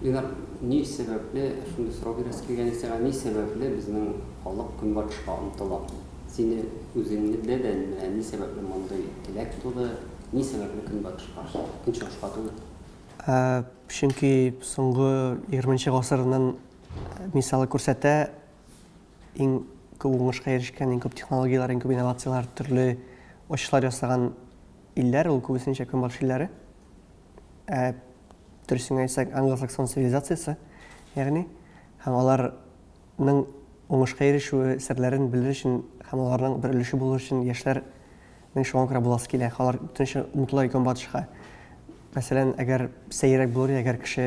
Ленар, ни сәбәпле, шундый сорау бирәсе килгән ич сиңа, ни сәбәпле безнең халык көнбатышка омтыла? Сине үзеңне дә дә менә ни сәбәпле мондый теләк туды, ни сәбәпле көнбатышка, көнчыгышка түгел? Ә, чөнки соңгы егерменче гасырнын мисалы күрсәтә, иң күп уңышка ирешкән, иң күп технологияләр, иң күп инновацияләр, төрле ачышлар ясаган илләр, ул күбесенчә көнбатыш илләре. ә дөресен әйтсәк, англосаксон цивилизациясе, ягъни, һәм аларның уңышка ирешүе серләрен белер өчен һәм аларның бер өлеше булыр өчен яшьләр Мин шуңа күрә буласы килә. Алар бөтенчә омтыла икән батышка. Мәсәлән, әгәр сәеррәк булыр, әгәр кеше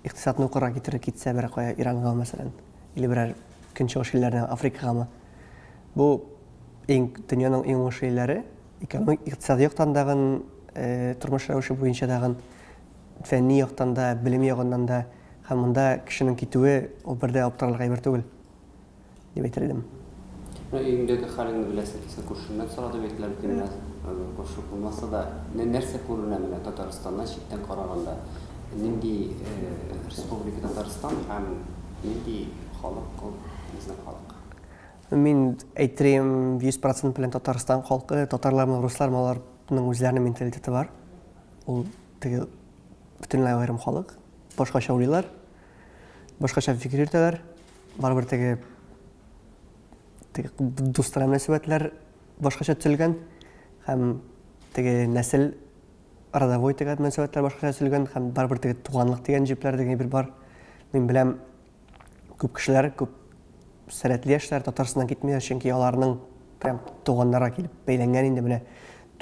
икътисадны укырга китереп китсә берәр кая Иранга, мәсәлән, или берәр көнчыгыш илләренә, Африкагамы. Бу Иң дөньяның иң уңышлы илләре экономик, икътисади яктан дагын, э, тормыш рәвеше буенча дагын, фәнни яктан да, белем ягыннан да һәм монда кешенең китүе ул бер дә аптырарлык әйбер түгел дип әйтер идем. Ну, өеңдәге хәлеңне беләсең икән, күршеңнән сора дип әйтелә бит инде. Күрше булмаса да, нәрсә күренә менә Татарстаннан читтән караганда? Нинди э, республика Татарстан һәм нинди халык ул безнең халык? Мин әйтерем 100% белән Татарстан халкы, татарлармы, руслармы, аларның үзләренең менталитеты бар. Ул теге бөтенләй аерым халык. Башкача уйлыйлар, башкача фикер йөртәләр. Барыбер теге теге дуслар мөнәсәбәтләр башкача төзелгән һәм теге нәсел родовой теге мөнәсәбәтләр башкача төзелгән һәм барыбер теге туганлык дигән җепләр дигән бер бар. Мин беләм Күп кешеләр, күп сәләтле яшьләр Татарстаннан китмиләр, чөнки аларның прям туганнары килеп бәйләнгән инде менә.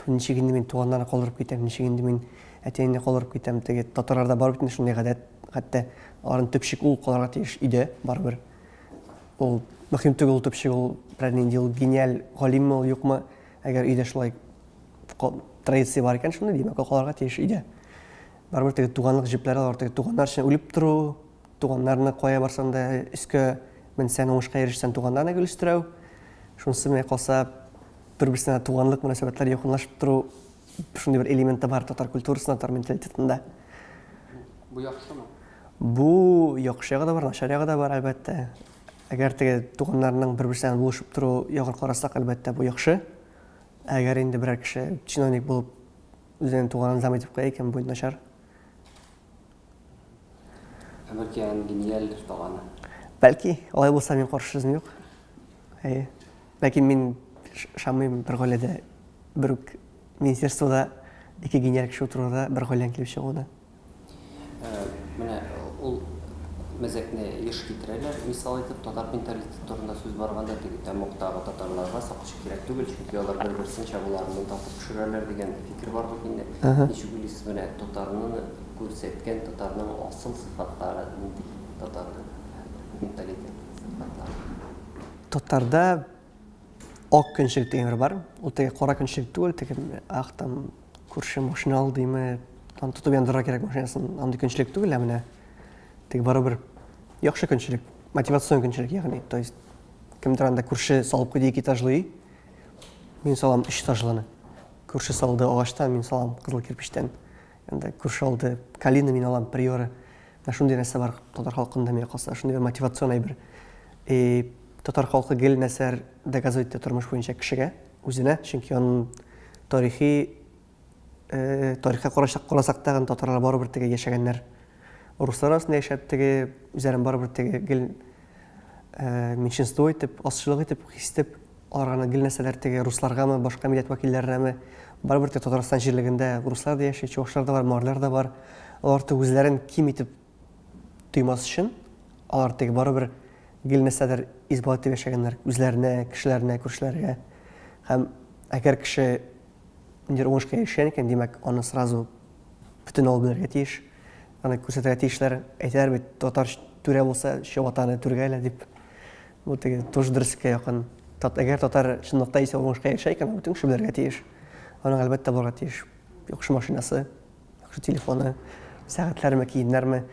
Ничек инде мин туганнарны калдырып китәм, ничек инде мин әтиәнне калдырып китәм. Теге татарларда бар бит шундый гадәт, хәтта аларның төпчек ул калырга тиеш иде, барыбер. Ул мөһим түгел ул төпчек, ул берәр нинди ул гениаль галимме ул юкмы, әгәр өйдә шулай традиция бар икән, шундый димәк, ул калырга тиеш иде. Барыбер теге туганлык җепләре алар теге туганнар өчен үлеп тору, Туганнарны кая барсаң да өскә менсәң, уңышка ирешсәң, туганнарны гел өстерәү. Шунысы менә калса, бер-берсенә туганлык мөнәсәбәтләре якынлашып тору, шундый бер элемент та бар татар культурасында, татар менталитетында. Бу яхшымы? Бу яхшы ягы да бар, начар ягы да бар, әлбәттә. Әгәр теге туганнарның бер-берсенә булышып тору ягын карасак, әлбәттә, бу яхшы. Әгәр инде берәр кеше чиновник булып үзенең туганын зам итеп куя икән, бу начар. Ә бәлки аның гениаль таланы? Бәлки, алай булса мин каршы сүзем юк. Әйе. Ләкин мин шамыйм бер гаиләдә бер үк министерствода ике гениаль кеше утыруда бер гаиләнең килеп чыгуына. Ә, менә ул мәзәкне еш китерәләр, мисал итеп, татар менталитеты турында сүз барганда теге тәмугтагы татарларга сакчы кирәк түгел, чөнки алар бер-берсен чабуларыннан татып Төшерәләр дигән фикер бар бит инде. Ничек уйлыйсыз, менә татарны күрсәткән татарның асыл сыйфатлары нинди? Татарның менталитет сыйфатлары. Татарда ак көнчелек дигән бер бар. Ул теге кара көнчелек түгел, теге ах там күрше машина алдыймы, там тотып яндырырга кирәк машинасын, андый көнчелек түгел, ә менә теге барыбер яхшы көнчелек, мотивацион көнчелек, ягъни, то есть кемдер анда күрше салып куйды ике этажлый, Мин салам өч этажлыны. Күрше салды агачтан, мин салам кызыл кирпечтән. Анда күрше алды калина, мин алам приоры. Менә шундый нәрсә бар татар халкында миңа калса, шундый бер мотивацион әйбер. И татар халкы гел нәрсәләр доказывать итә тормыш буенча кешегә, үзенә, чөнки аның тарихи Э, тарихка карашак карасак тагын татарлар барыбер теге яшәгәннәр руслар арасында яшәп теге үзләрен барыбер теге гел э, меньшинство итеп азчылык итеп хис итеп аларга гел нәрсәләр теге русларгамы башка милләт вәкилләренәме барыбер теге татарстан җирлегендә руслар да яши чувашлар да бар марлар да бар алар теге үзләрен ким итеп тоймас өчен, алар теге барыбер гел нәрсәдер исбат итеп яшәгәннәр үзләренә, кешеләренә, күршеләргә. Һәм әгәр кеше ниндидер уңышка ирешкән икән, димәк, аны сразу бөтен авыл белергә тиеш, аны күрсәтергә тиешләр. Әйтәләр бит, татар түрә булса, чабатаны түргә әле дип. Бу теге тоже дөреслеккә якын. Тат, әгәр татар чынлыкта исә уңышка ирешә икән, бөтен кеше белергә тиеш. Аның әлбәттә булырга тиеш яхшы машинасы, Яхшы телефоны, сәгатьләрме, киемнәрме.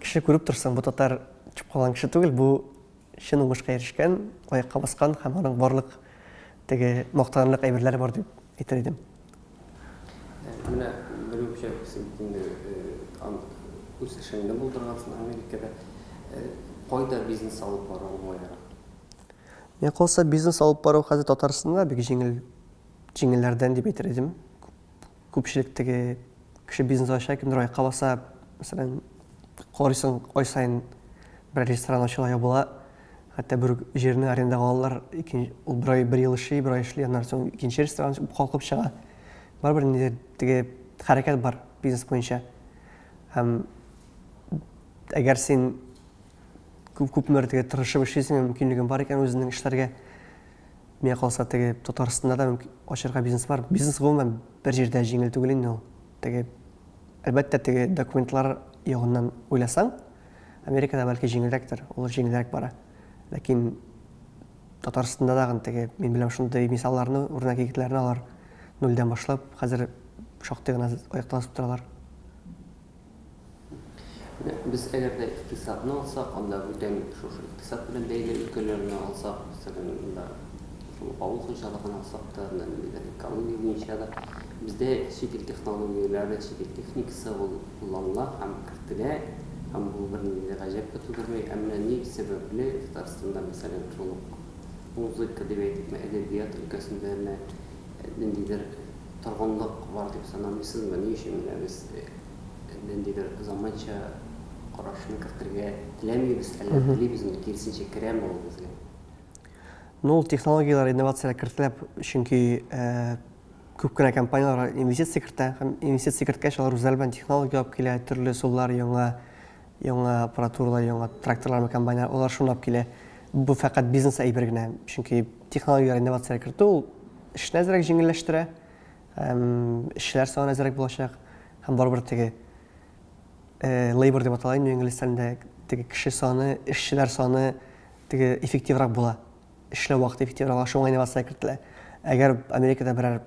Кеше күреп торсын, бу татар төшеп калган кеше түгел, бу чын уңышка ирешкән, аякка баскан һәм аның барлык теге мактанлык әйберләре бар дип әйтер идем. Менә бер үк җәбесен инде үз эшеңне булдыргансың Америкада. Кайда бизнес алып бару уңайрак? Миңа калса, бизнес алып бару хәзер Татарстанда бик җиңел, җиңелләрдән дип әйтер идем. Күпчелек теге кеше бизнес ача, кемдер аякка баса, мәсәлән, карыйсың, ай саен бер ресторан ачыла, ябыла. Хәтта бер үк җирне арендага алалар, икенче ул бер ай, бер ел эшли, бер ай эшли, аннан соң икенче ресторан калкып чыга. Барыбер ниндидер теге хәрәкәт бар бизнес буенча. Һәм әгәр син күп күпмедер теге тырышып эшлисең, мөмкинлегең бар икән үзеңнең эшләргә, Миңа калса, теге Татарстанда да мөмкин ачырга бизнес бар. Бизнес гомумән бер җирдә җиңел түгел инде ул. Теге әлбәттә теге документлар ягыннан уйласаң, Америкада бәлки җиңелрәктер, ул җиңелрәк бара. Ләкин Татарстанда да теге мин беләм шундый мисалларны үрнәк егетләрне алар нульдән башлап, хәзер шактый гына аякта басып торалар. Менә без әгәр дә икътисадны алсак, анда бүтән шушы икътисад белән бәйле өлкәләрне алсак, мәсәлән, монда шул авыл хуҗалыгын алсак та, менә ниндидер экология буенча да бездә чит ил технологияләре, чит ил техникасы ул кулланыла һәм кертелә, һәм бу бернинди дә гаҗәп тә тудырмый. Ә менә ни сәбәпле Татарстанда, мәсәлән, шул ук музыка дип әйтикме, әдәбият өлкәсендә менә ниндидер торгынлык бар дип санамыйсызмы? Ни өчен генә без ниндидер заманча карашны кертергә теләмибез, әллә телибезме, киресенчә, керәме ул безгә? Ну, ул технологияләр, инновацияләр кертелә, чөнки күп кенә компанияләр инвестиция кертә һәм инвестиция керткәч, алар үзләре белән технология алып килә, төрле ысуллар, яңа, яңа аппаратуралар, яңа тракторлармы, комбайннар, алар шуны алып килә. Бу фәкать бизнес әйбер генә, чөнки Технологияләр инновация кертү ул эшне әзрәк җиңелләштерә, эшчеләр саны әзрәк булачак һәм барыбер теге э, labor дип атала инде инглиз телендә теге кеше саны, эшчеләр саны теге эффективрак була. Эшләү вакыты эффективрак була, шуңа инновация кертелә. Әгәр Америкада берәр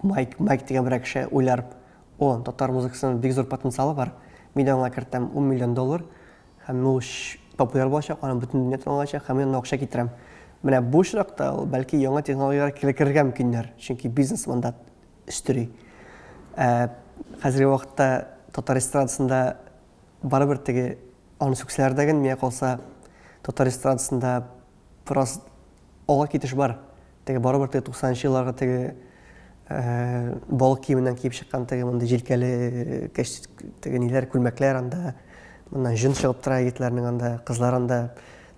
Майк, Майк дигән берәр кеше уйларып, о, татар музыкасының бик зур потенциалы бар, мин аңа кертәм 10 миллион доллар, Һәм ул популяр булачак, аны бөтен дөнья тын алачак, һәм мин аны акча китерәм. Менә бу очракта ул бәлки яңа технологияләр килекерергә мөмкиннәр, чөнки бизнес монда өстери. Ә хәзерге вакытта татар эстрадасында барыбер теге аны сүксәләр дә генә, миңа калса, татар эстрадасында бераз Алга китеш бар. Теге барыбер теге 90 нчы елларгы теге балык киеменнән киеп чыккан теге мондый җилкәле кәч теге ниләр күлмәкләр анда моннан җон чыгып тора егетләрнең анда кызлар анда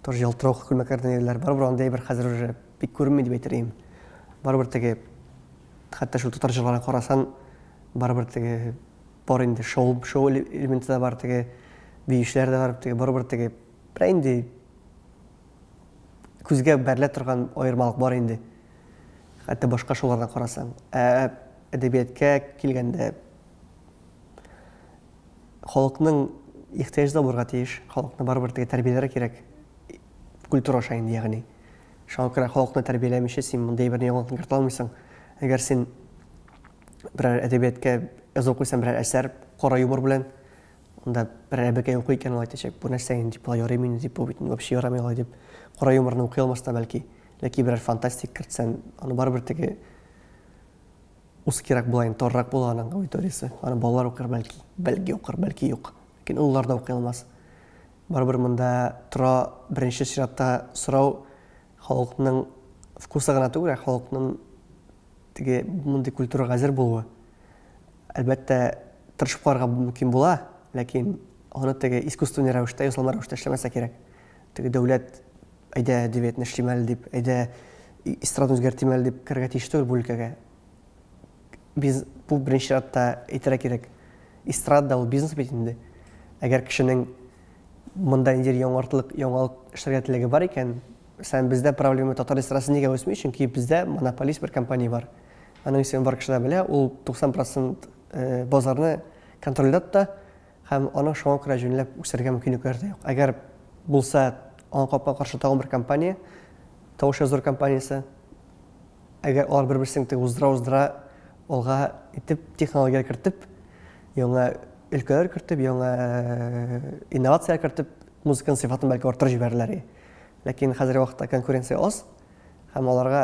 тоже ялтыравык күлмәкләрдән йөриләр барыбер андый әйбер хәзер уже бик күренми дип әйтер идем барыбер теге хәтта шул татар җырларын карасаң барыбер теге бар инде шоу шоу элементы да бар теге биючеләр дә бар теге барыбер теге берәй инде күзгә бәрелә торган аермалык бар инде, хәтта башка шуларга карасаң. Ә әдәбияткә килгәндә, халыкның ихтыяҗы да булырга тиеш, халыкны барыбер теге тәрбияләргә кирәк, культура аша инде, ягъни. Шуңа күрә халыкны тәрбияләмичә син мондый әйберне яңалык кертә алмыйсың. Әгәр син берәр әдәбияткә язып куйсаң берәр әсәр, кара юмор белән, Анда бер әбекәй укый икән, ул әйтәчәк, бу нәрсә инде, дип, болай ярыймы инде, дип, бу бит вообще ярамый алай, дип. Кара юморны укый алмас та бәлки. Ләкин берәр фантастик кертсән, аны барыбер теге узкирәк була инде, торрак була аның аудиториясе. Аны балалар укыр бәлки, бәлки укыр, бәлки юк. Ләкин олылар да укый алмас. Барыбер монда тора беренче чиратта сорау халыкның вкусы гына түгел, ә халыкның теге мондый культурага әзер булуы. Әлбәттә, тырышып карарга бу мөмкин була, ләкин аны теге искусственный рәвештә, ясалма рәвештә эшләмәсә кирәк. Теге дәүләт, әйдә, әдәбиятны эшлим әле дип, әйдә, эстраданы үзгәртим әле дип керергә тиеш түгел бу өлкәгә. Без, бу беренче чиратта әйтергә кирәк, эстрада ул бизнес бит инде. Әгәр кешенең монда ниндидер яңартлык, яңалык эшләргә теләге бар икән, мәсәлән, бездә проблема татар эстрадасы нигә үсми? Чөнки бездә монополист бер компания бар. Аның исемен бар кешеләр белә, ул 90 процент базарны контрольдә тота һәм аның шуңа күрә җүнләп үсәргә мөмкинлекләре дә юк. Әгәр булса, аңа капма каршы тагын бер компания, тавыш языр компаниясе, әгәр алар бер-берсен тек уздыра-уздыра алга итеп, технологияләр кертеп, яңа өлкәләр кертеп, яңа инновацияләр кертеп, музыканың сыйфатын бәлки арттырып җибәрерләр. Ләкин хәзерге вакытта конкуренция аз һәм аларга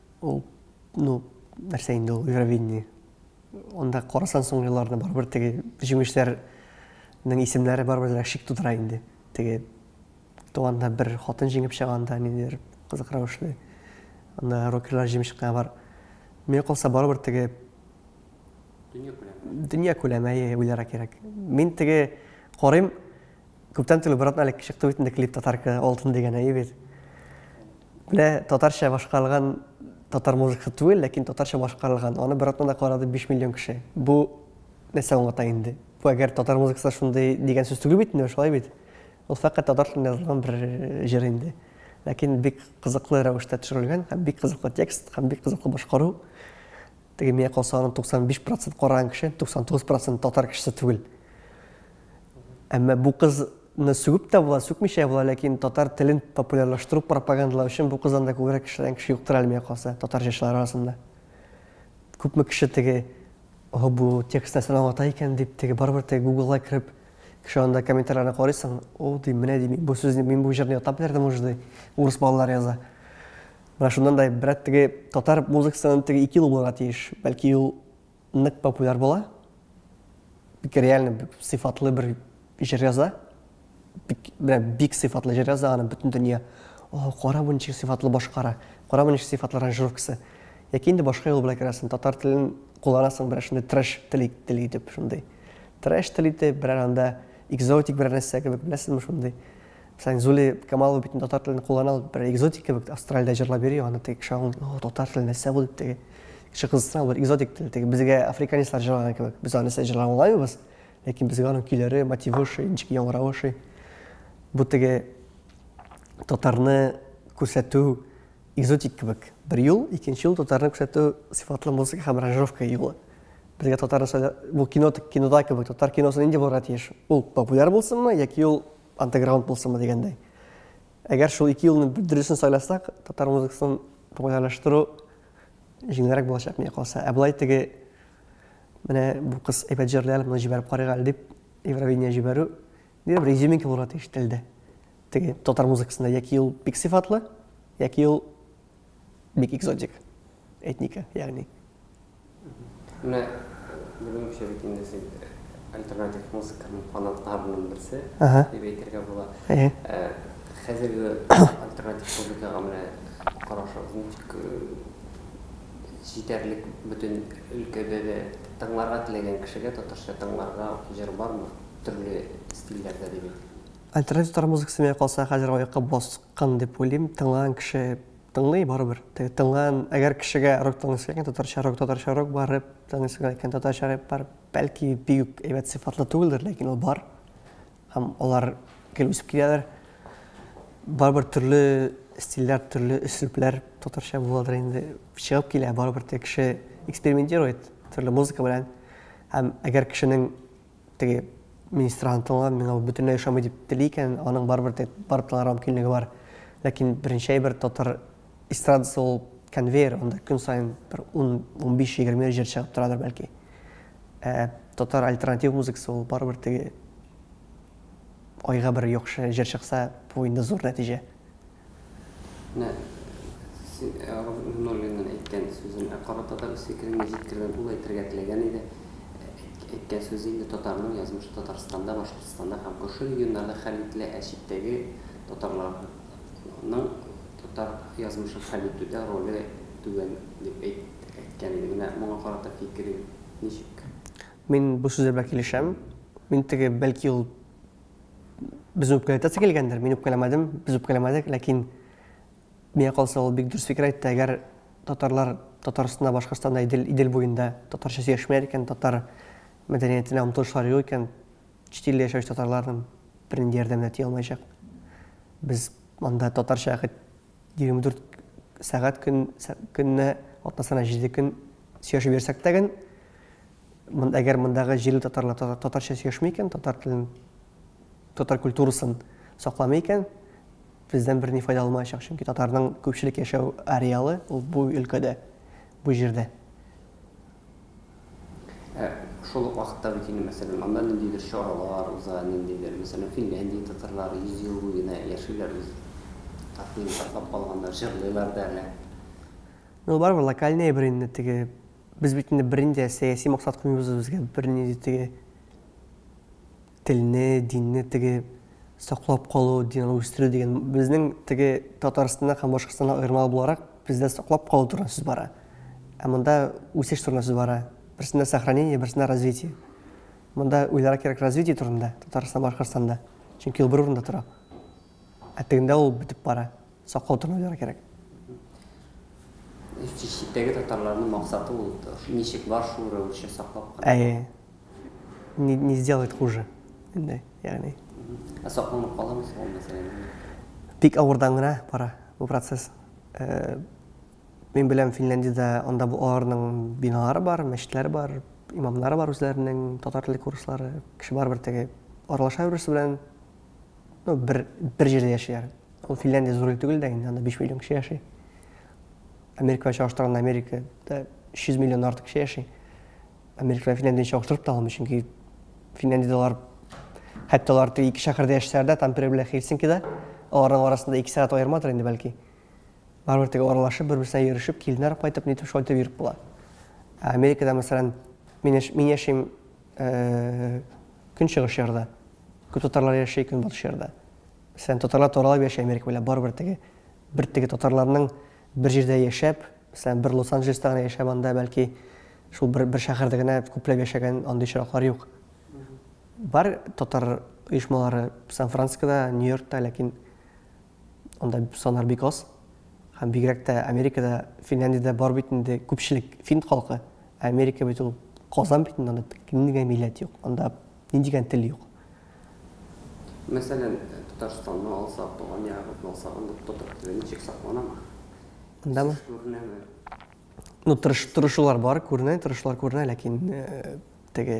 Ул, ну, нәрсә инде ул Евровидение. Анда карасан соңгы елларда барыбер теге җиңүчеләрнең исемнәре барыбер дә шик тудыра инде. Теге туганда бер хатын җиңеп чыганда ниндидер кызык рәвешле. Анда рокерлар җиңеп чыккан бар. Миңа калса барыбер теге дөнья күләме. Дөнья күләме, әйе, уйлара кирәк. Мин теге карыйм, Күптән түгел, бер атна элек чыкты бит инде клип Татарка алтын дигән әйе бит. Менә татарча башкарылган татар музыкасы түгел, ләкин татарча башкарылган. Аны бер атнада карады 5 миллион кеше. Бу нәрсә аңлата инде? Бу әгәр татар музыкасы шундый дигән сүз түгел бит инде, шулай бит. Ул фәкать татар телендә язылган бер э, җыр инде. Ләкин бик кызыклы рәвештә төшерелгән һәм бик кызыклы текст һәм бик кызыклы башкару. Теге миңа калса аның 95 процент караган кеше, 99 процент татар кешесе түгел. Әмма бу кызны сүгеп тә була, сүкмичә була, ләкин татар телен популярлаштыру, пропагандалау өчен бу кыздан да күбрәк кешеләрен кеше юктыр әле миңа калса, татар җырчылары арасында. Күпме кеше теге О, бу текст нәрсәне аңлата икән дип, теге барыбер теге Гуглга кереп, кеше анда комментарийларны карыйсың, о, ди, менә ди, бу сүзне, мин бу җырны ятлап бирдем уже, ди, урыс балалар яза. Менә шуннан да гыйбрәт, теге татар музыкасыннан теге ике ел булырга тиеш. Бәлки ул нык популяр була. Бик реально бик сыйфатлы бер җыр яза. Бик, менә бик сыйфатлы җыр яза, аны бөтен дөнья. О, кара бу ничек сыйфатлы башкара. Кара бу ничек сыйфатлы аранжировкасы. Яки инде башка юл белән керәсең, татар телен кулланасың берәр шундый трэш тел тел итеп шундый. Трэш тел итеп, берәр анда экзотик берәр нәрсә кебек, беләсезме шундый. Сән Зули Камалова бит татар телен куллана ул бер экзотик кебек Австралиядә җырлап йөри аны теге кеше аңлый о татар теле нәрсә бу дип теге кеше кызыксына бер экзотик тел теге безгә африканецлар җырлаган кебек без аны нәрсә җырлап аңлаймыбыз ләкин безгә аның көйләре мотивы ошый ничек яңгыравы ошый бу теге татарны күрсәтү экзотик кебек бер юл икенче юл татарны күрсәтү сыйфатлы музыка һәм аранжировка юлы безгә татар нәрсә бу кино кинода кебек татар киносы нинди булырга тиеш ул популяр булсынмы яки ул Андеграунд булсынмы дигәндәй. Әгәр шул ике юлны дөресен сайласак, татар музыкасын популярлаштыру җиңелрәк булачак миңа калса. Ә болай теге менә бу кыз әйбәт җырлый әле, моны җибәреп карыйк әле дип Евровидение җибәрү бер бер изюминка булырга тиеш телдә. Теге татар музыкасында яки ул бик сыйфатлы, яки ул бик экзотик. этника, ягъни. Менә бүгенчә бит инде син альтернатив музыканың фанатларының берсе дип әйтергә була. Хәзерге альтернатив музыкага менә карашыгыз ничек? Җитәрлек бөтен өлкәдә дә тыңларга теләгән кешегә татарча тыңларга җыр бармы? Төрле стильләрдә димәк. Альтернатив татар музыкасы миңа калса хәзер аякка баскан дип уйлыйм. Тыңлаган кеше Тыңлый барыбер. Теге тыңлан, әгәр кешегә рок тыңлыйсы килгән, татарча рок, татарча рок бар, рэп тыңлыйсы килгән икән, татарча рэп бар. Бәлки бик үк әйбәт сыйфатлы түгелдер, ләкин ул бар. Һәм алар гел үсеп киләләр. Барыбер төрле стильләр, төрле өслүпләр татарча буладыр инде. Чыгып килә, барыбер теге кеше экспериментирует төрле музыка белән. Һәм әгәр кешенең теге министрга ынтылган, миңа бу бөтенләй ошамый дип тели икән, аның барыбер тә барып тыңларга мөмкинлеге бар. Ләкин беренче әйбер татар эстрадасы ул конвейер, анда көн саен бер 10-15-20 җыр чыгып торадыр бәлки. Ә татар альтернатив музыкасы ул барыбер теге айга бер яхшы җыр чыкса, бу инде зур нәтиҗә. Менә син Нуруллинның әйткән сүзен ә карата да үз фикерен ничек җиткергән, ул әйтергә теләгән иде. Әйткән сүзе инде татарның язмышы Татарстанда, Башкортстанда һәм күрше регионнарда хәл ителә, ә читтәге татарларның татар язмышын хәл итүдә роле түбән дип әйткән иде. Менә моңа карата фикерең ничек? Мин бу сүзләр белән килешәм. Мин теге, бәлки ул. безне үпкәләтәсе килгәндер, мин үпкәләмәдем, без үпкәләмәдек, ләкин миңа калса ул бик дөрес фикер әйтте, әгәр татарлар Татарстанда, Башкортстанда, Идел, Идел буенда татарча сөйләшмәләр икән, татар мәдәниятенә омтылышлар юк икән, чит илдә яшәүче татарларның бернинди ярдәменә тия алмаячак. Без монда татарча хәт 24 сәгать көн көнне атнасына 7 көн сөйләшеп йөрсәк тә Әгәр мондагы җирле татарлар татарча сөйләшми икән, татар телен, татар культурасын сакламый икән, бездән берни файда алмаячак, чөнки татарның күпчелек яшәү ареалы ул бу өлкәдә, бу җирдә. Ә шул ук вакытта бит инде, мәсәлән, анда ниндидер чаралар уза, ниндидер, мәсәлән, Финляндия татарлары 100 ел буе генә яшиләр, үз татмин саклап калганнар, җырлыйлар да әле. Ну, барыбер локальный әйбер инде, теге Без бит инде берни дә сәяси максат куймыйбыз үзебезгә, берни дә теге телне, динне теге саклап калу, дин аны үстерү дигән. Безнең теге Татарстаннан һәм Башкортстаннан аермалы буларак, бездә саклап калу турында сүз бара. Ә монда үсеш турында сүз бара. Берсендә сохранение, берсендә развитие. Монда уйларга кирәк развитие турында, Татарстан, Башкортстанда. Чөнки ул бер урында тора. Ә тегендә ул бетеп бара. Саклау төрмәләре кирәк. Читтәге татарларның максаты ул ничек бар шул рәвешчә саклап калу. Әйе. Не не сделает хуже. Инде, ягъни. Ә сакланып каламы соң ул мәсьәлә? Бик авырдан гына бара бу процесс. Мин беләм, Финляндиядә анда бу аларның биналары бар, мәчетләре бар, имамнары бар үзләренең, татар теле курслары. Кеше барыбер теге аралаша бер-берсе белән. Ну, бер, бер җирдә яшиләр. Ул Финляндия зур ил түгел дә инде, анда 5 миллион кеше яши. Америкага чагыштырганда Америкада 300 миллион артык кеше яши. Америкага Финляндия чагыштырып та алмый, чөнки Финляндиядә алар хәтта алар теге ике шәһәрдә яшәсәләр дә, Тампере белән Хельсинкида, аларның арасында 2 сәгать аермадыр инде бәлки. Барыбер теге аралашып, бер-берсенә йөрешеп, киленнәр кайтып, нитеп шайтып йөреп була. Америкада, мәсәлән, мин яшим Көнчыгыш ярда күп татарлар яши, көнбатыш ярда. Мәсәлән, татарлар таралып яши Америка буйлап, барыбер теге бер теге татарларның бер җирдә яшәп, мәсәлән, бер Лос-Анджелеста гына яшәп, анда бәлки шул бер бер шәһәрдә генә күпләп яшәгән андый очраклар юк. Бар татар оешмалары Сан-Францискода, Нью-Йоркта, ләкин Анда саннар бик аз. Һәм бигрәк тә Америкада, Финляндиядә бар бит инде күпчелек фин халкы. Ә Америка бит ул Казан бит инде, анда нинди генә милләт юк, анда нинди генә тел юк. Мәсәлән, Татарстанны алсак, туган ягыбызны алсак, анда татар теле ничек сакланамы? Андамы? Үсеш күренәме? Ну, тырыш, тырышулар бар, күренә, тырышулар күренә, ләкин теге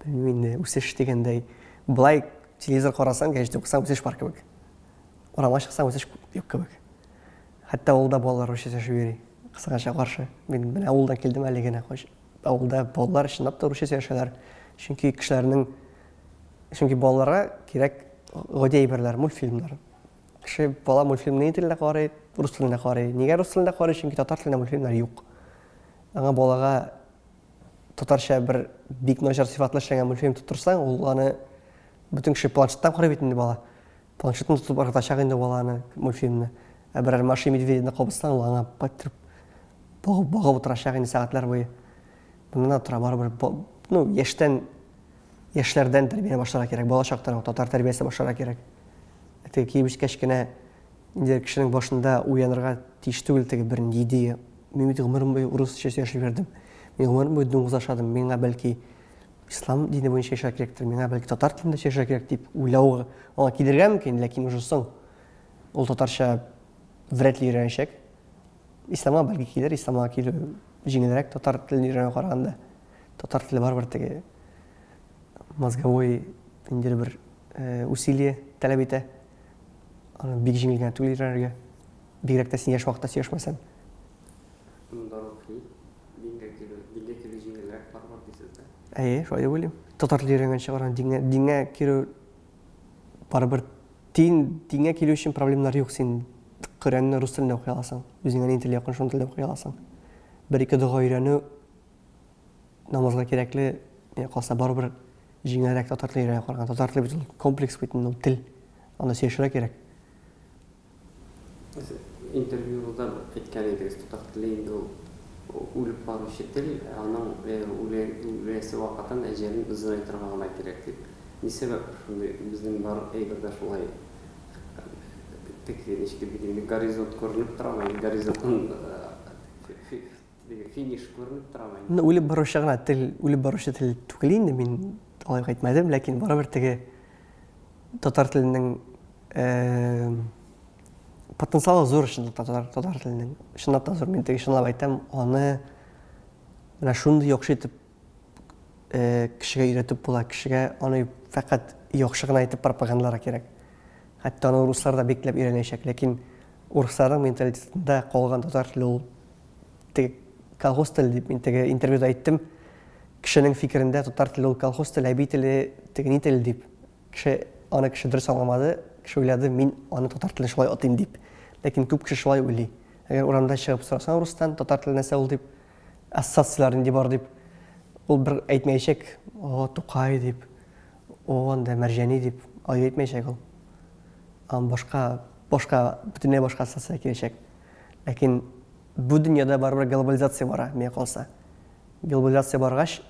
Белмим инде, үсеш дигәндәй. Болай телевизор карасаң, гәҗит укысаң үсеш бар кебек. Урамга чыксаң үсеш юк кебек. Хәтта авылда балалар өчен сөйләшеп йөри. Кысыгача каршы. Мин менә авылдан килдем әле генә. Авылда балалар чынлап та русча сөйләшәләр. Чөнки кешеләрнең чөнки балаларга кирәк гади әйберләр, мультфильмнар. Кеше бала мультфильмны ни телендә карый, рус телендә карый. Нигә рус телендә карый? Чөнки татар телендә мультфильмнар юк. Аңа балага татарча бер бик начар сыйфатлы эшләнгән мультфильм тотырсаң, ул аны бөтен кеше планшеттан карый бит инде бала. Планшетны тотып ыргытачак инде баланы, мультфильмны. Ә берәр Маша и Медведьны кабызсаң, ул аңа кайтырып багып, багып утырачак инде сәгатьләр буе. Моннан тора барыбер, ну, яшьтән яшьләрдән тәрбия башларга кирәк, балачактан ук татар тәрбиясе башларга кирәк. Теге киеп җиткәч кенә инде кешенең башында уянырга тиеш түгел теге бер ни идея. Мин бит гомерем буе урысча сөйләшеп йөрдем. Мин гомерем буе дуңгыз ашадым. Миңа бәлки ислам дине буенча яшәргә кирәктер, миңа бәлки татар телендә сөйләшергә кирәк дип уйлау аңа килергә мөмкин, ләкин уже соң ул татарча вряд ли өйрәнәчәк. Исламга бәлки килер, исламга килү җиңелрәк татар телен өйрәнү караганда. Татар теле барыбер теге мозговой инде бер э, усилие таләп итә. Аны бик җиңел генә түгел өйрәнергә. Бигрәк тә син яшь вакытта сөйләшмәсәң. Әйе, шулай дип уйлыйм. Татар теле өйрәнгәнче чыгарга дингә, дингә керү барыбер дин, дингә килү өчен проблемалар юк. Син Коръәнне рус телендә укый аласың. Үзеңә ни теле якын, шуны телдә укый аласың. Бер-ике дога өйрәнү Намазга кирәкле, миңа калса, барыбер җиңелрәк татар телен өйрәнеп караган. Татар теле бит ул комплекс бит, ну, тел. Аны сөешергә кирәк. Интервьюда әйткән идегез, татар теле инде ул үлеп баручы тел, аның үләсе вакытын, әҗәлен озынайтырга гына кирәк дип. Ни сәбәп шундый? Безнең бар әйбер дә шулай. Теге ничек дип әйтим, горизонт күренеп торамы, горизонтын Финиш күренеп торамы инде? Ну, үлеп баручы гына тел, үлеп баручы тел түгел инде, мин алай әйтмәдем, ләкин барыбер теге татар теленең э, потенциалы зур өчен татар, татар теленең. Чынлап та зур, мин теге чынлап әйтәм, аны менә шундый яхшы итеп э, кешегә өйрәтеп була, кешегә аны фәкать яхшы гына итеп пропагандалар кирәк. Хәтта аны руслар да бикләп өйрәнәчәк, ләкин урысларның менталитетында калган татар теле ул теге колхоз теле дип мин теге интервьюда әйттем. Кешенең фикерендә татар теле ул колхоз теле, әби теле, теге ни теле дип. Кеше аны кеше дөрес аңламады, кеше уйлады, мин аны татар теле шулай атыйм дип. Ләкин күп кеше шулай уйлый. Әгәр урамда чыгып сорасаң рустан, татар теле нәрсә ул дип, ассоциацияләр нинди бар дип, ул бер әйтмәячәк, о, Тукай дип, о, анда Мәрҗәни дип, ай әйтмәячәк ул. Ам башка, башка, бөтенләй башка ассоциация киләчәк. Ләкин бу дөньяда барыбер глобализация бара, миңа калса. Глобализация баргач,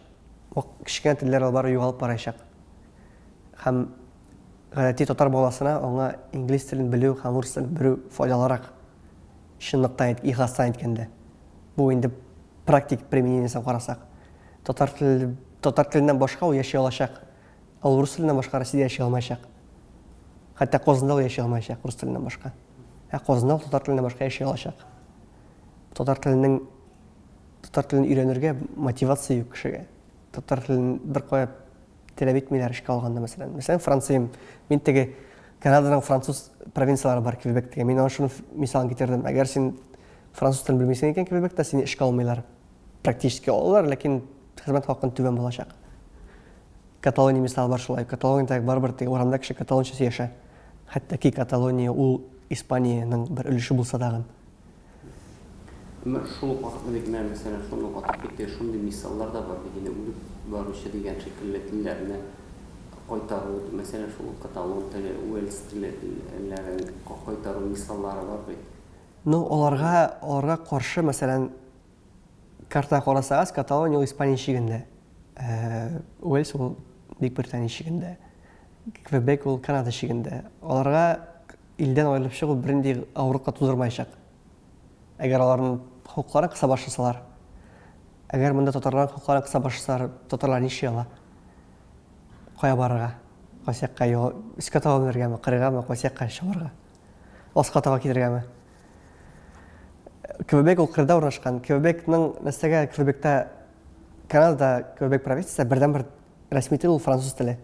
вак кечкенә телләр алар бары югалып барачак. Һәм гадәти татар баласына аңа инглиз телен белү һәм урыс телен белү файдалырак. Чынлыктан, ихластан әйткәндә. Бу инде практик применениесен карасак. Татар теле, татар теленнән башка ул яши алачак, ә урыс теленнән башка Россиядә яши алмаячак. Хәтта Казанда ул яши алмаячак урыс теленнән башка. Ә казна ул татар теленә башка яши алачак. Татар теленең татар телен өйрәнергә мотивация юк кешегә. Татар телен беркая теләп итмиләр эшкә алганда, мәсәлән. Мәсәлән, Франциям. Мин теге Канаданың француз провинцияләре бар Квебектә. Мин аны шуны мисалын китердем. Әгәр син француз телен белмисең икән Квебекта, сине эшкә алмыйлар. практически алалар, ләкин хезмәт хакын түбән булачак. Каталония мисалы бар шулай. Каталониядә барыбер теге урамда кеше каталонча сөйләшә. Хәтта ки Каталония ул Испаниянең бер өлеше булса тагын. Менә шул ук вакытны бит менә мәсәлән шуны ук атап китте, шундый мисаллар да бар бит инде үлеп баручы дигән шикелле телләрне кайтару, мәсәлән шул ук каталон теле, уэльс теле телләрен кайтару мисаллары бар бит. Ну, аларга, аларга каршы, мәсәлән, картына карасагыз, Каталония ул Испания чигендә, Уэльс ул Бөекбритания чигендә, Квебек ул Канада чигендә. Аларга илдән аерылып чыгу бернинди авырлык тудырмаячак. Әгәр аларның хокукларын кыса башласалар, әгәр монда татарларның хокукларын кыса башласалар, татарлар нишли ала? Кая барырга? Кайсы якка юл, өскә таба менергәме, кырыйгамы, кайсы якка чабарга? Аска таба килергәме? Квебек ул кырда урнашкан. Квебекның нәрсәгә Квебекта Канада Квебек провинциясе бердән бер рәсми тел ул француз теле.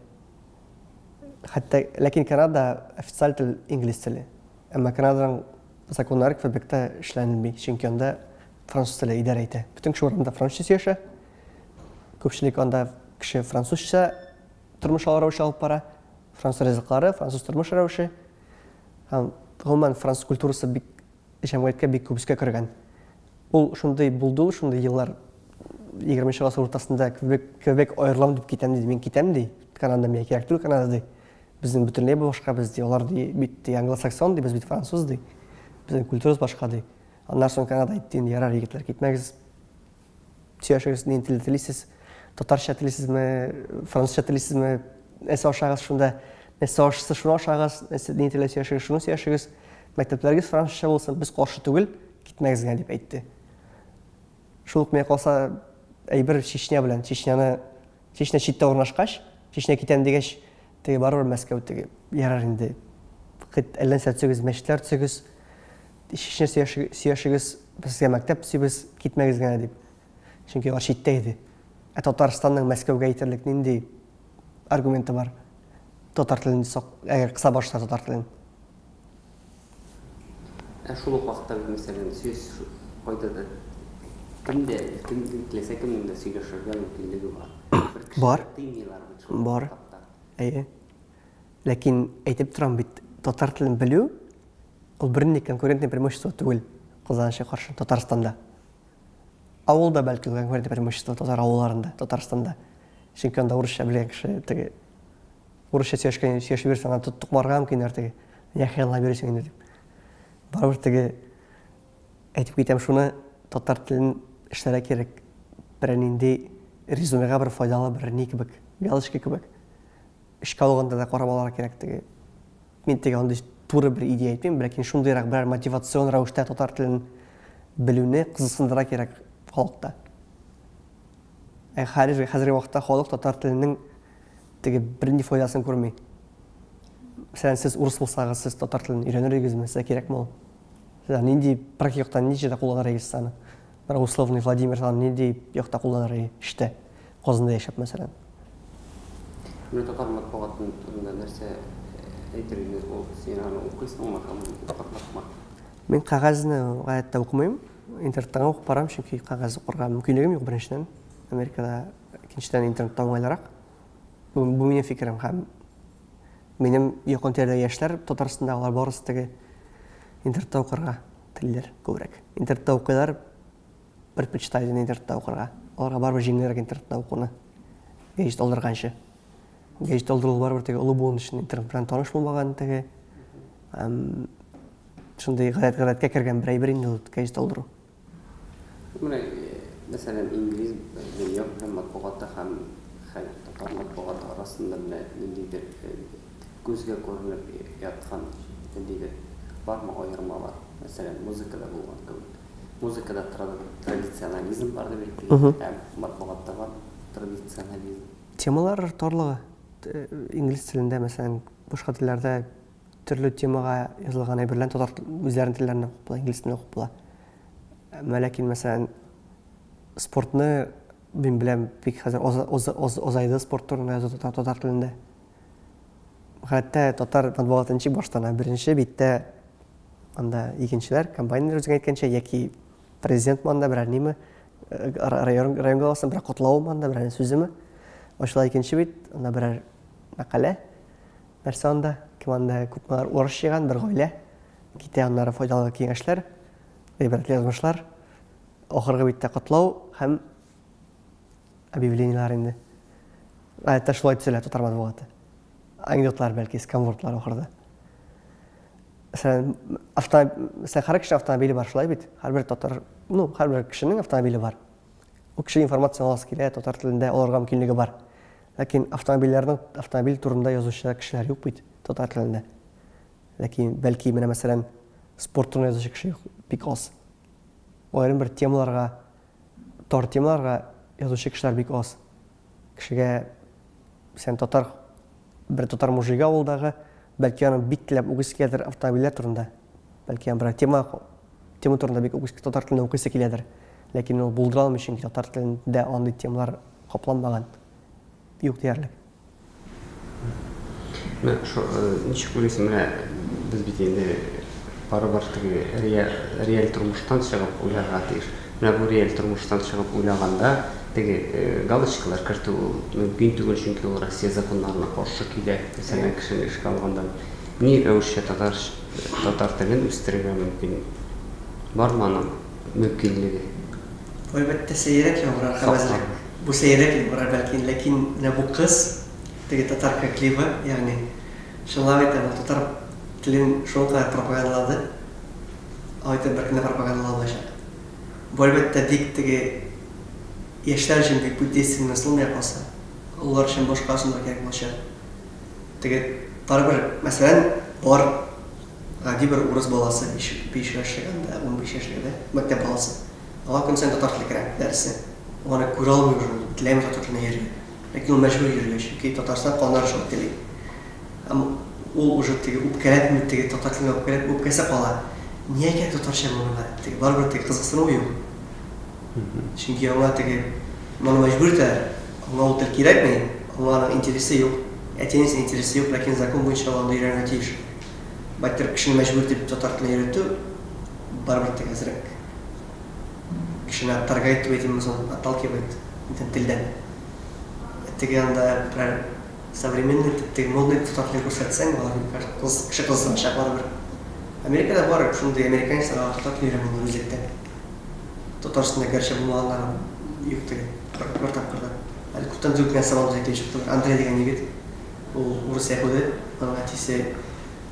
Хәтта ләкин Канада официаль тел инглиз теле. Әмма Канаданың законнары Квебекта эшләнелми, чөнки анда француз теле идарә итә. Бөтен кеше урында французча сөйләшә. Күпчелек анда кеше французча тормыш алу рәвеше алып бара. Француз ризыклары, француз тормыш рәвеше. Һәм гомумән француз культурасы бик җәмгыятькә бик күп өскә кергән. Ул шундый булды ул шундый еллар 20 нче гасыр уртасында Квебек, Квебек аерылам дип китәм ди, мин китәм ди. Канада миңа кирәк түгел Канада ди. Безнең бөтенләй башка без ди. Алар ди бит ди англосаксон ди, без бит француз ди. Безнең культурабыз башка ди. Аннан соң Канада әйтте инде ярар егетләр китмәгез. Сөйләшегез, нинди телдә телисез? Татарча телисезме, французча телисезме? Нәрсә ашагыз шунда? Нәрсә ашыгыз, шуны ашагыз. Нәрсә нинди телдә сөйләшегез, шуны сөйләшегез. Мәктәпләрегез французча булсын, без каршы түгел, китмәгез генә дип әйтте. Шул ук миңа калса, әйбер Чечня белән, Чечняны Чечня читтә урнашкач, Чечня китәм дигәч, теге барыбер Мәскәү теге. Ярар инде. Хет әллә нәрсә төзегез, мәчетләр төзегез. Чечня сөяшегез, без сезгә мәктәп төзибез, китмәгез генә дип. Чөнки алар читтә иде. Ә Татарстанның Мәскәүгә әйтерлек нинди аргументы бар? Татар телен сак, әгәр кыса башта татар телен. Ә шул ук вакытта без, мәсәлән, сүз кайда да, кемдә, кем, теләсә кемнең дә сөйләшергә мөмкинлеге бар. Бер кешегә Бар. тыймыйлар бит шул Бар. этапта. Әйе. Ләкин әйтеп торам бит, татар телен белү, ул бернинди конкурентное преимущество түгел казанчыга каршы Татарстанда. Авылда, бәлки, ул конкурентное преимущество татар авылларында, Татарстанда. Чөнки анда урысча белгән кеше теге Урысча сөйләшкән, сөйләшеп йөрсәң, аны тоттык барырга мөмкин әле теге. Нигә хыяллап йөрисең инде дип. Барыбер теге әйтеп китәм шуны, татар телен эшләргә кирәк. Берәр нинди резюмега бер файдалы бер ни кебек, галочка кебек. Эшкә алганда да карап алырга кирәк теге. Мин теге андый туры бер идея әйтмим, ләкин шундыйрак берәр мотивацион рәвештә татар телен белүне кызыксындыра кирәк халыкта. Ә хәзер хәзерге вакытта халык татар теленең теге бернинди файдасын күрми. Мәсәлән, сез урыс булсагыз, сез татар телен өйрәнер идегезме? Сезгә кирәкме ул? Сезгә нинди практик яктан нинди җирдә кулланыр идегез аны? Бер условный Владимир аны нинди якта кулланыр иде? Эштә. Казанда яшәп, мәсәлән. Менә татар матбугатын турында нәрсә э, әйтер идегез? Ул син аны укыйсыңмы һәм укырсыңмы? Мин кәгазьне гаять тә укымыйм. Интернеттан ук барам, чөнки кәгазь укырга мөмкинлегем юк беренчедән. Америкада Икенчедән, интернетта уңайлырак. Бу, бу минем фикерем һәм минем якын тирәдә яшьләр Татарстанда алар барысы теге интернетта укырга телиләр күбрәк. Интернетта укыйлар, предпочитают интернетта укырга. Аларга барыбер җиңелрәк интернетта укуны, гәҗит алдырганчы. Гәҗит алдыру барыбер теге олы буын өчен интернет белән таныш булмаган теге, шундый гадәткә кергән бер әйбер инде ул гәҗит алдыру. Менә, мәсәлән, инглиз дөнья һәм матбугаты һәм хәл татар матбугаты арасында менә ниндидер күзгә күренеп яткан ниндидер бармы аермалар? Мәсәлән, музыкада булган кебек. Музыкада традиционализм бар дип әйттегез, ә матбугатта бар традиционализм. Темалар тарлыгы. Инглиз телендә, мәсәлән, башка телләрдә. Төрле темага язылган әйберләрне татар үзләрен телләрен укып була, инглиз телен укып була. Әмма ләкин, мәсәлән, спортны мин беләм, бик хәзер озайды спорт турында язу татар, татар телендә. Хәтта татар матбугаты ничек баштана? Беренче биттә анда икенчеләр, комбайнер үзең әйткәнчә, яки президент манда берәр ниме, э, район, район главасының берәр котлавы манда, берәр сүземе? Ачыла икенче бит, анда берәр Мәкалә. Нәрсә анда? Кем анда? Күпме алар урыш җыйган, бер гаилә. Китә аннары файдалы киңәшләр, гыйбрәтле язмышлар. Ахыргы биттә котлау һәм объявлениелар инде. Гадәттә шулай төзелә татар матбугаты. Анекдотлар бәлки, сканвордлар ахырда. Мәсәлән, авто, мәсәлән, һәр кеше автомобиле бар, шулай бит? Һәрбер татар, ну, һәрбер кешенең автомобиле бар. Ул кеше информация аласы килә, татар телендә аларга мөмкинлеге бар. Ләкин автомобильләрнең автомобиль турында язучы кешеләр юк бит татар телендә. Ләкин, бәлки, менә мәсәлән, спорт турында язучы кеше юк, бик аз. Аерым бер темаларга, тар темаларга язучы кешеләр бик аз. Кешегә, сән татар, бер татар мужигы авылдагы, бәлки аның бик теләп укыйсы киләдер автомобильләр турында. Бәлки аның бер тема, тема турында бик укыйсы, татар телендә укыйсы киләдер. Ләкин ул булдыра алмый, чөнки татар телендә андый темалар Капланмаган. Юк диярлек. Менә шо, э, ничек уйлыйсың, менә без бит инде барыбер теге реаль, реаль тормыштан чыгып уйларга тиеш. Менә бу реаль тормыштан чыгып уйлаганда теге э, галочкалар кертү ул мөмкин түгел, чөнки ул Россия законнарына каршы килә. Мәсәлән, кешене эшкә алганда ни рәвешчә татар татар телен үстерергә мөмкин? Бармы аның мөмкинлеге? Әлбәттә, сәеррәк яңгырар кабәзрәк. Бу сәеррәк яңгырар бәлки, ләкин менә бу кыз, теге татар креклива, ягъни, чынлап әйтәм, ул татар телен шул кадәр пропагандалады, алай итеп беркем дә пропагандалый алмаячак. Бу, әлбәттә, бик теге яшьләр өчен бик бу действенный ысул менә калса. Олылар өчен башка ысуллар кирәк булачак. Теге, барыбер, мәсәлән, алар. Гади бер урыс баласы биш-биш яшьлек анда, унбиш яшьлек дә, мәктәп баласы. Аңа көн саен татар теле керә, дәресе. Ул аны күрә алмый уже, ул теләми татар теленә йөрергә. Ләкин ул мәҗбүр йөрергә, чөнки Татарстан кануннары шулай тели. Һәм ул уже теге үпкәләпме, теге татар теленә үпкәләп үпкәсе кала. Ниңа кирәк татарча моңа? Теге барыбер теге кызыксынуы юк. Чөнки аңа теге моны мәҗбүр итәләр. Аңа ул тел кирәкми, аңа аның интересы юк. Әти-әнисенең интересы юк, ләкин закон буенча ул анда өйрәнергә тиеш. Байтак кешене мәҗбүр итеп татар телен өйрәтү барыбер тә әзрәк. Кешене оттаргает дип әйтимме соң, отталкивает бөтен телдән. Теге янда берәр современный, теге модный татар телен күрсәтсәң, алар кыз, кеше кызыксыначак барыбер. Америкада бар шундый американецлар, алар татар телен өйрәнгәннәр үзлектән. Татар өстендә гәрчә булмаганнары юк теге бер тапкыр да. Әле күптән түгел кенә сабантуйда килеп чыктылар. Андрей дигән егет. Ул урыс яһүде, аның әтисе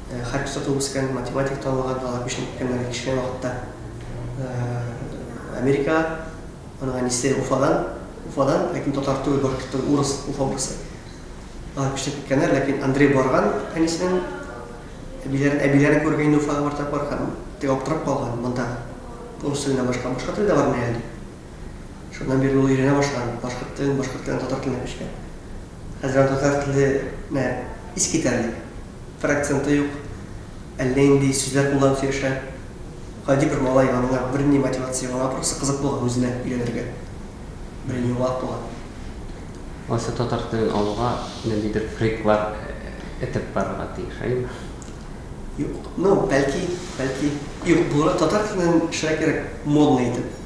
хәрби суда туып үскән, математик танылган, алар күченеп киткәннәр бик кечкенә вакытта Америкага. Аның әнисе Уфадан, Уфадан, ләкин татар түгел, Башкортстан, урыс, Уфа урысы. Алар күченеп киткәннәр, ләкин Андрей барган әнисенең әбиләрен, әбиләрен күрергә инде Уфага бер тапкыр һәм теге аптырап калган, монда урыс теленнән башка башка тел дә бармы әле дип. Шуннан бирле ул өйрәнә башлаган, башкорт телен, башкорт телен татар теленә күчкән. Хәзер аны татар теле нә ис китәрли. Бер акценты юк, әллә инди сүзләр кулланып сөйләшә. Гади бер малай, аңа берни мотивация юк, аңа просто кызык булган үзенә өйрәнергә. Бер яңалык булган. Алайса татар телен алуга ниндидер триклар этеп барырга тиеш, әйеме? Юк, ну, бәлки, бәлки. Юк, булырак татар теленнән эшләргә кирәк, модный итеп.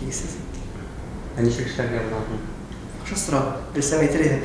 Дигезсез. Ә ничек эшләргә боларны? Яхшы сорау. Белсәм әйтер идем.